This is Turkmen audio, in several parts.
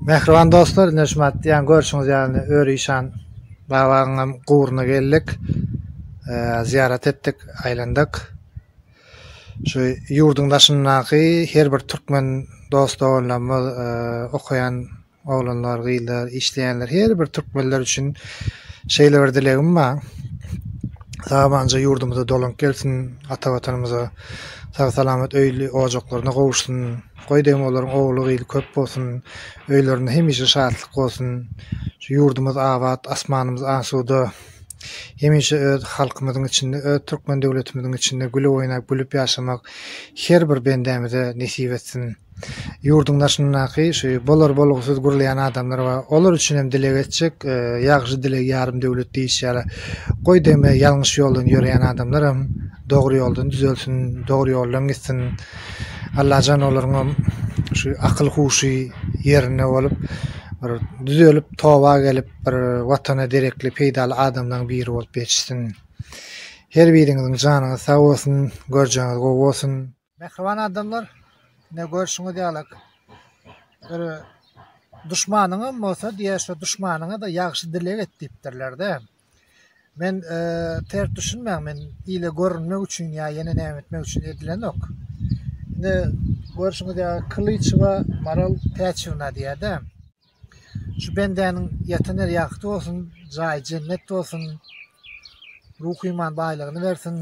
Mähriban dostlar, indi şu matdiýan görşüňiz ýaly Öri işan babagyň hem guburyna geldik. Zyýarat etdik, aýlandyk. Şu ýurduň daşyndaky her bir türkmen dost-doganlarymyz, okaýan Oglanlar, gyzlar, işleýänler her bir türkmenler üçin şeýle bir dilegim bar. Sabanja ýurdumyza dolanyp gelsin, ata watanymyza sag salamat öýli ojaklaryna gowuşsyn. Goý degim olaryň ogly gyzy köp bolsun, öýlerinde hemişe şatlyk bolsun. Şu ýurdumyz abat, asmanymyz asuda. Hemişe öz halkymyzyň içinde, öz türkmen döwletimiziň içinde gülüp oýnap, gülüp ýaşamak her bir bendämize nesip etsin. ýurduň daşyndaky şu bolar-bolgusyz gürleýän adamlar bar. Olar üçin hem dileg etjek, ýagşy dileg ýarym döwlet diýişi ýaly. Goý degme, ýalňyş ýoldan ýöreýän adamlaram dogry ýoldan düzelsin, dogry ýoldan gitsin. Allajan olaryňam şu akyl-huşy ýerinde bolup, bir düzelip, toba gelip, bir Watana derekli, peýdaly adamlaryň biri bolup ýetişsin. Her biriňiziň janyňyz sag bolsun, görjeginiz gowy bolsun. Mähriban adamlar ine görşüňiz ýalak bir duşmanyňam bolsa diýe şo duşmanyňada ýagşy dileg et diýipdirlerde. Men ters düşünmäň men ile görünmek üçin ýa ýene näme etmek üçin edilenok. Ine görşüňiz ýalak Kylyçewa Maral Täçewna diýäde. Şu bendäniň ýatan ýeri ýagty bolsun, jaýy jennet bolsun. Ruhy iman baýlygyny bersin.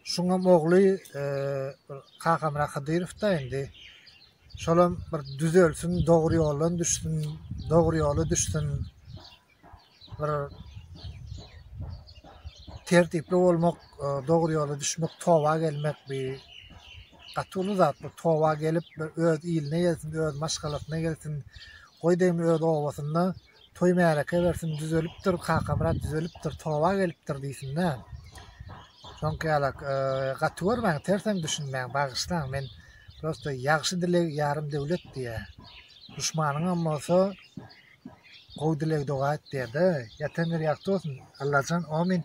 Şuňam ogly Kakamyrat Hydyrow-da indi. Şolam bir düzelsin, dogry ýoldan düşsün, dogry ýola düşsün. Bir tertipli bolmak, e, dogry ýola düşmek, toba gelmek bi gaty uly zat. Bu toba gelip öz iline gelsin, öz maşgalasyna gelsin. Goý diýim öz obasynda Toý märeke bersin düzelipdir Kakamyrat düzelipdir toba gelipdir diýsinda. Şoňky ýala gaty görmäň terseň düşünmäň bagyşlaň men prosta ýagşy dileg ýarym döwlet diýä. Duşmanyňam bolsa gowy dileg doga et diýäde. Ýatan ýeri ýagty bolsun Allajan amin.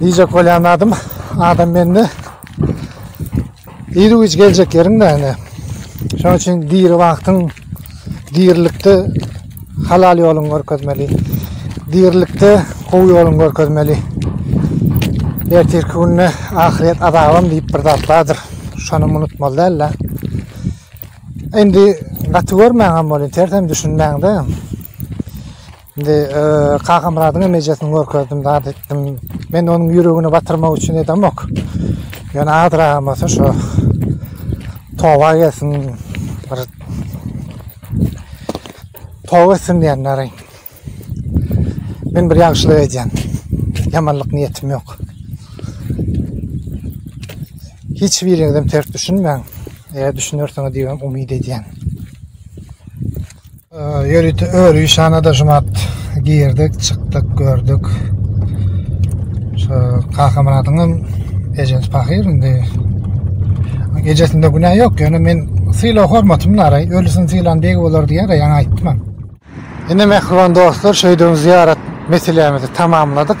Diýjek bolýan zadym, adam mende iri güýç geljek ýeriň näne? Şonuň üçin diri wagtyň dirilikde halal ýoluňy görkezmeli. Dirilikde gowy ýoluňy görkezmeli. Ertirki günde ahyret azabam diýip bir zat bardyr. Şony unutmaly däl-de. Indi gaty görmäňem bolýar, tersen düşünmäňde. Indi Kakamyradyň hem ejesini görkezdim, zat etdim. Men onuň ýüregini batyrmak üçin edemok. Ýöne azragam bolsa şu toba gelsin, bir toba etsin diýenleri. Men bir ýagşylyk edýän. Ýamanlyk niýetim ýok. Hiç biriňizem ters düşünmäň. Eger düşünersiňiz diýip umyt edýän. Ýörite öri şanada şumat girdik, çykdyk, gördük. Şu Kakamyradyň hem ejesi pahyr indi. Ejesinde günä ýok, ýöne men syla hormatym bar, ölüsini sylan beg bolar diýýär, ýaňy aýtdym. Indi mähriban dostlar, şeýdibem zyýarat meselämizi tamamladyk.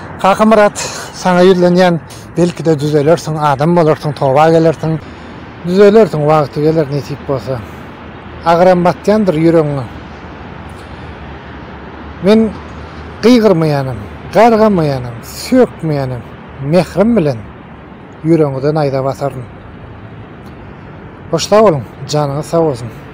Kakamyrat, saňa ýüzlenýän, belki-de düzelersiň, adam bolarsyň, toba gelersiň. Düzelersiň, wagty geler, nesip bolsa. Agyram batýandyr ýüregiňe. Men gygyrmaýanam, gargamaýanam, sökmeýänam, mährim bilen ýüregiňize naýza basaryn. Hoş sag boluň, janyňyz sag bolsun!